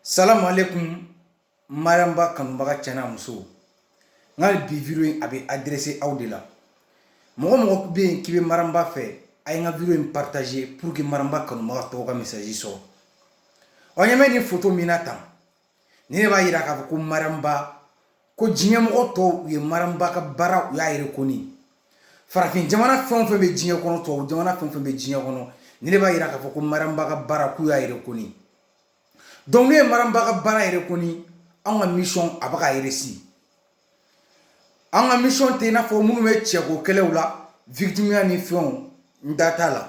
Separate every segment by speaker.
Speaker 1: salamu alekum maramba kanubaga cɛ ni muso n ka vidéo in a bɛ adresser aw de la mɔgɔ mɔgɔ bɛ yen k'i bɛ maramba fɛ a ye n ka vidéo in partager pour que maramba kanubaga tɔgɔ ka message sɔrɔ aw ɲɛ bɛ nin photo min na tan ni ne b'a jira k'a fɔ ko maramba ko diɲɛmɔgɔ tɔw u ye maramba ka baara u y'a reconnu farafin jamana fɛn fɛn bɛ diɲɛ kɔnɔ tɔw jamana fɛn fɛn bɛ diɲɛ kɔnɔ ni ne b'a jira k'a fɔ ko maramba ka baara k'u y'a reconnu donc n'u ye maramba ka baara reconnu an ka mission a bɛ ka réussir an ka mission tɛ n'a fɔ minnu bɛ cɛko kɛlɛ la victimiya ni fɛnw n da t'a la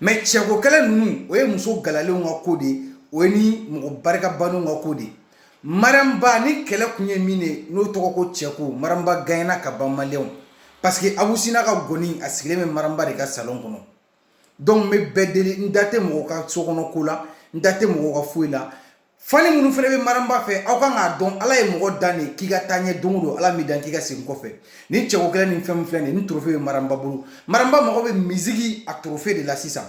Speaker 1: mais cɛko kɛlɛ ninnu o ye muso galalenw ka ko de ye o ye ni mɔgɔ barika bannenw ka ko de ye maramba nin kɛlɛ kun ye min ye n'o tɔgɔ ko cɛko maramba gaɲɛna ka ban maliens parce que abu si n'a ka ngɔni a sigilen bɛ maramba de ka salon kɔnɔ donc n bɛ bɛɛ deli n da tɛ mɔgɔ ka so kɔnɔ ko la n da tɛ mɔgɔ ka foyi la fan minnu fana bɛ maramba fɛ aw kan k'a dɔn ala ye mɔgɔ dan de k'i ka taa ɲɛ don o don ala m'i dan k'i ka segin kɔfɛ ni cɛko kɛlɛ ni fɛn filɛ nin ni torofe bɛ maramba bolo maramba mago bɛ musique a torofe de la sisan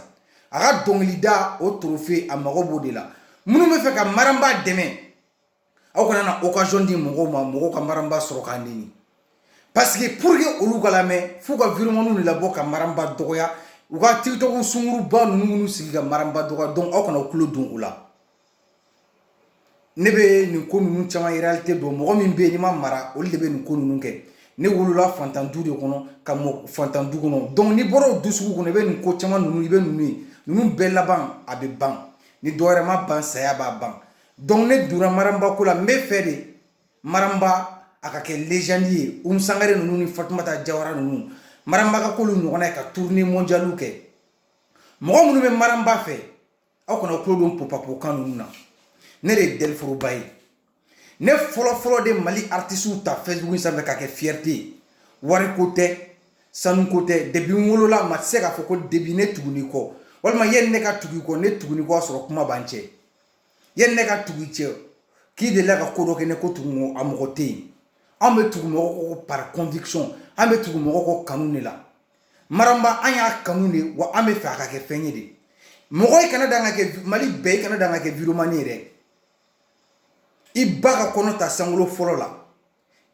Speaker 1: a ka dɔnkilida o torofe a mago b'o de la minnu bɛ fɛ ka maramba dɛmɛ aw kana na occasion di mɔgɔw ma mɔgɔw ka maramba sɔrɔ k'a nɛni parce que pour que olu ka lamɛn f'u ka vidéomanw de labɔ ka maramba dɔgɔya u ka tiktok sunguruba ninnu minnu sigi ka maramba dɔgɔya donc aw kana u tulo don u la ne bɛ nin ko ninnu caman réalité dɔn mɔgɔ min bɛ yen n'i ma mara olu de bɛ nin ko ninnu kɛ ne wolola fantan du de kɔnɔ ka mɔ fantan du kɔnɔ donc n'i bɔra o du sugu kɔnɔ i bɛ nin ko caman ninnu i bɛ ninnu ye ninnu bɛɛ laban a bɛ ban ni dɔ wɛrɛ ma ban saya b'a ban donc ne donna maramba ko la n bɛ fɛ de maramba a ka kɛ légende ye umu sangare ninnu ni fatumata jawara ninnu maramba ka k'olu ɲɔgɔnna ye ka tournée mondialiw kɛ mɔgɔ minnu bɛ maramba fɛ aw kana tulo don popapokan ninnu na ne de ye dɛliforoba ye ne fɔlɔfɔlɔ de mali artisiw ta facebook sanfɛ ka kɛ fierté ye wariko tɛ sanuko tɛ depuis n wolola ma se k'a fɔ ko debi ne tuguni kɔ walima ye ne ka tugu kɔ ne tuguni kɔ a sɔrɔ kuma b'an cɛ ye ne ka tugu cɛ k'i delila ka ko dɔ kɛ ne ko tugu a mɔgɔ tɛ yen an bɛ tugu mɔgɔ kɔ par conviction an bɛ tugu mɔgɔ kɔ kanu de la maramba an y'a kanu de wa an bɛ fɛ a ka kɛ fɛn ye de mɔgɔ i kana dan ka kɛ mali bɛɛ i kana dan ka kɛ vidéoman ye dɛ i ba ka kɔnɔ ta sankolo fɔlɔ la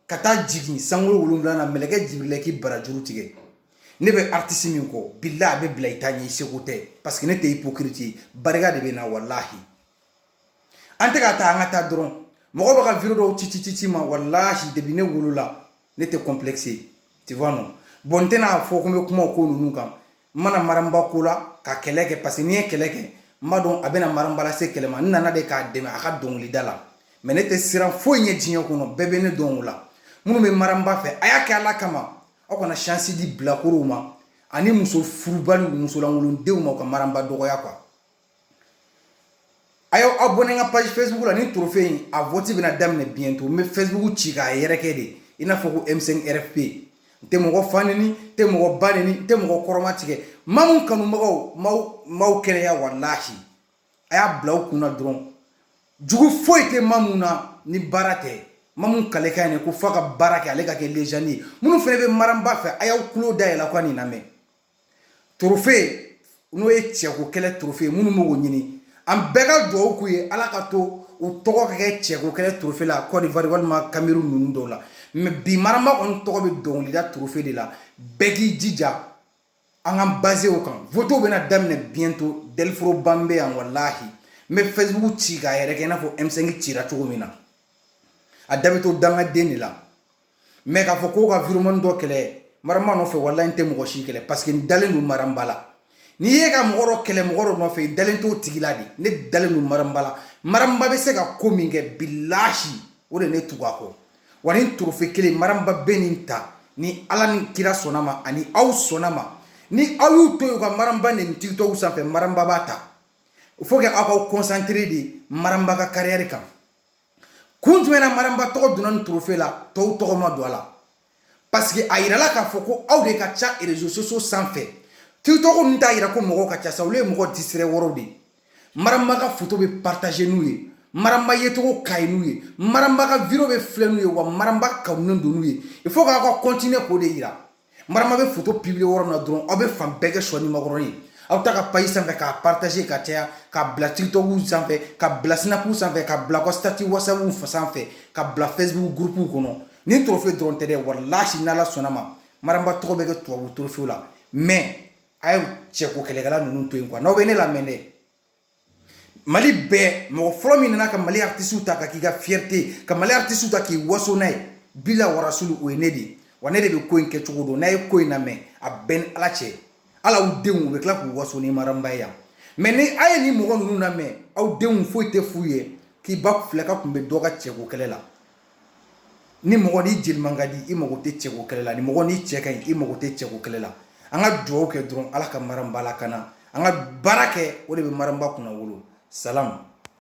Speaker 1: ka taa jigin sankolo wolonwula na mɛlɛkɛ jibirila k'i barajuru tigɛ ne bɛ aritisi min kɔ bila a bɛ bila i ta ɲɛ i seko tɛ parce que ne tɛ ipokiriti ye barika de bɛ n na walahi an tɛ ka taa an ka taa dɔrɔn mɔgɔ bɛ ka vidéo dɔw ci ci ci ci ma walahi depuis ne wolola ne tɛ complexe ye tu vois non bon n tɛna fɔ ko n bɛ kuma o ko ninnu kan n ma na maramba ko la ka kɛlɛ kɛ parce que n'i ye kɛlɛ kɛ n b'a dɔn a bɛna maramba lase kɛlɛ ma n nana de k'a dɛmɛ a ka dɔnkilida la mais ne tɛ siran foyi ɲɛ diɲɛ kɔnɔ bɛɛ bɛ ne dɔn o la minnu bɛ maramba fɛ a y'a kɛ ala kama aw kana chance di bilakorow ma ani muso furubaliw musolankolondenw ma u ka maramba dɔgɔya quoi a y'aw abonné n ka page facebook la ni trophée in a vote bɛna daminɛ bientôt n bɛ facebook ci k'a yɛrɛkɛ de i n'a fɔ ko m5 rfp n tɛ mɔgɔ fa neni n tɛ mɔgɔ ba neni n tɛ mɔgɔ kɔrɔmatigɛ maramba kanubagaw maaw maaw kɛnɛya walahi a y'a bila u kun na dɔrɔn jugu foyi tɛ maramba la ni baara tɛ maa mun kale ka ɲi ko f'a ka baara kɛ ale ka kɛ légende ye minnu fana bɛ maramba fɛ a y'aw tulo dayɛlɛ ka nin lamɛn torofe n'o ye cɛko kɛlɛ torofe ye minnu b'o ɲini an bɛɛ ka dugawu k'u ye ala k'a to u tɔgɔ ka kɛ cɛko kɛlɛ torofe la kɔdiwari walima cameroun ninnu dɔw la mɛ bi maramba kɔni tɔgɔ bɛ dɔnkilida torofe de la bɛɛ k'i jija an ka pagew kan votew bɛna daminɛ bientôt daforoba bɛ yan walahi n bɛ facebook ci k'a yɛrɛkɛ n'a fɔ m5 cira cogo min na a da bɛ to dangaden de la mɛ k'a fɔ ko ka vraiment dɔ kɛlɛ maramba nɔfɛ walahi n tɛ mɔgɔ si kɛlɛ parce que n dalen don maramba la n'i ye ka mɔgɔ kɛlɛ mɔgɔ dɔ nɔfɛ i dalen t'o tigi la de ne dalen don maramba la maramba bɛ se ka ko min kɛ bilasi o de ne tugu a kɔ wa nin torofe kelen maramba bɛ nin ta ni ala ni kira sɔnna ma ani aw sɔnna ma ni aw y'u to yen ka maramba neni tiktok sanfɛ maramba b'a ta faut que aw ka concentrer de maramba ka carrière kan kun jumɛn na maramba tɔgɔ donna nin trofe la tɔw tɔgɔ ma don a la parce que a yirala k'a fɔ ko aw de ka ca réseaux sociaux sanfɛ tiktok ninnu t'a yira ko mɔgɔw ka ca sa olu ye mɔgɔ disirɛ wɔrɔw de ye maramba ka foto bɛ partager n'u ye maramba yecogo ka ɲi n'u ye maramba ka video bɛ filɛ n'u ye wa maramba kanunen don n'u ye il faut k'aw ka continuer k'o de yira maramba bɛ foto publier yɔrɔ min na dɔrɔn aw bɛ fan bɛɛ kɛ sɔ ni makɔrɔni aw taa a ka page sanfɛ k'a partager k'a caya k'a bila tiktok sanfɛ k'a bila snap sanfɛ k'a bila aw ka statut whatsapp sanfɛ k'a bila facebook groupew kɔnɔ nin torofe dɔrɔn tɛ dɛ walahi n'ala sɔnna ma maramba tɔgɔ bɛ kɛ tubabu torofew la mais a ye cɛko kɛlɛkɛla ninnu to yen quoi n'aw bɛ ne lamɛn dɛ mali bɛɛ mɔgɔ fɔlɔ min nana ka mali artistew ta k'a k'i ka fierté ka mali artistew ta k'i waso n'a ye bila warasiw o ye ne de ye wa ne de bɛ ko in kɛcogo dɔn n'a ye ko in namɛn a bɛ n ni ala cɛ ala aw denw bɛ tila k'u waso ni maramba ye mɛ ni aw ye nin mɔgɔ ninnu namɛn aw denw foyi tɛ f'u ye k'i ba filɛ k'a tun bɛ dɔ ka cɛko kɛlɛ la ni mɔgɔ ni i jeliman ka di i mako tɛ cɛko kɛlɛ la ni mɔgɔ ni i cɛ ka ɲi i mako tɛ cɛko kɛlɛ la an ka dugawu kɛ dɔrɔn ala ka maramba lakana an ka baara kɛ o de bɛ maramba kunnawolo sa